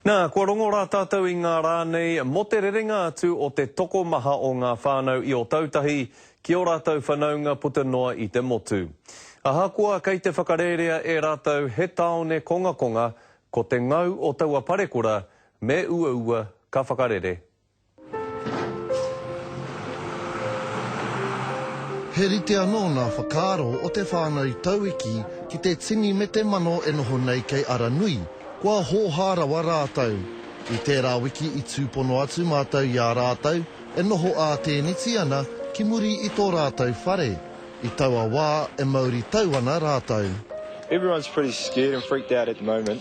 Nā, kua rongo rā tātou i ngā rā nei mō te rerenga atu o te tokomaha o ngā whānau i Otautahi ki ō rātou whanaunga puta noa i te motu. Ahakoa kei te whakarērea e rātou he tāone kongakonga, ko te ngau o taua parekura me uaua ka whakarere He rite anō ngā whakaaro o te whānau Tauiki ki te tini me te mano e noho nei kei Aranui, kua hōhā rawa rātou. I tērā wiki i tūpono atu mātou i a rātou e noho ā-tēneti ana ki muri i tō rātou whare. I taua wā e mauritau ana rātou. Everyone's pretty scared and freaked out at the moment.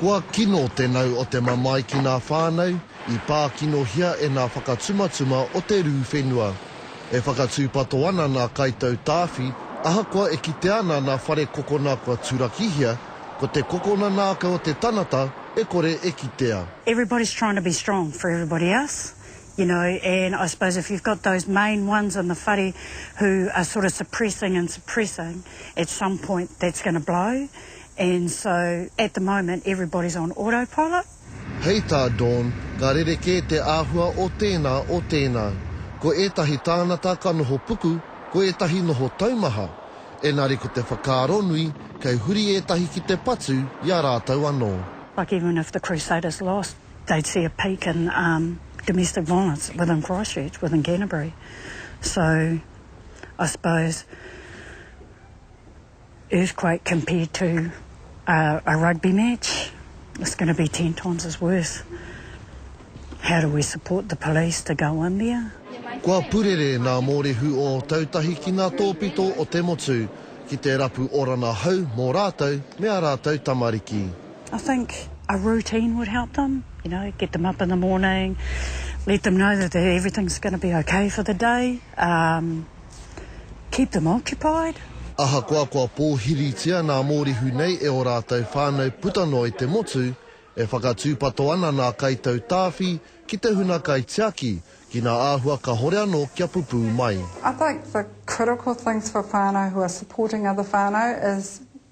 Kua kino te nau o te mamae ki ngā whānau i pā kinohia e ngā whakatumatuma o te rū whenua. E whakatūpato ana ngā kaitau tāwhi ahakoa e kitea ana ngā whare kokona kua turakihia, ko te kokona nāka o te tangata e kore e kitea. Everybody's trying to be strong for everybody else, you know, and I suppose if you've got those main ones in the whare who are sort of suppressing and suppressing, at some point that's going to blow And so at the moment everybody's on autopilot. Hei tā Dawn, ka rerekē te āhua o tēnā, o tēnā. Ko ētahi tāngata ka noho puku, ko ētahi noho taumaha. Engari ko te whakaaro nui, kei huri ētahi ki te patu i a rātou anō. Like even if the Crusaders lost, they'd see a peak in domestic violence within Christchurch, within Canterbury. So I suppose. Earthquake compared to a rugby match, it's going to be ten times as worse. How do we support the police to go in there? Kua purere nā Mōrehu o Ōtautahi ki ngā tōpito o te motu ki te rapu orana hau mō rātou me ā rātou tamariki. I think a routine would help them, you know, get them up in the morning, let them know that everything's going to be okay for the day. Keep them occupied. Ahakoa kua pōhiritia nā Mōrehu nei e ō rātou whānau puta noa i te motu, e whakatūpato ana nā Kaitau Tāwhi ki te huna kaitiaki ki nā āhua kahore anō kia pupū mai. I think the critical things for whānau who are supporting other whānau is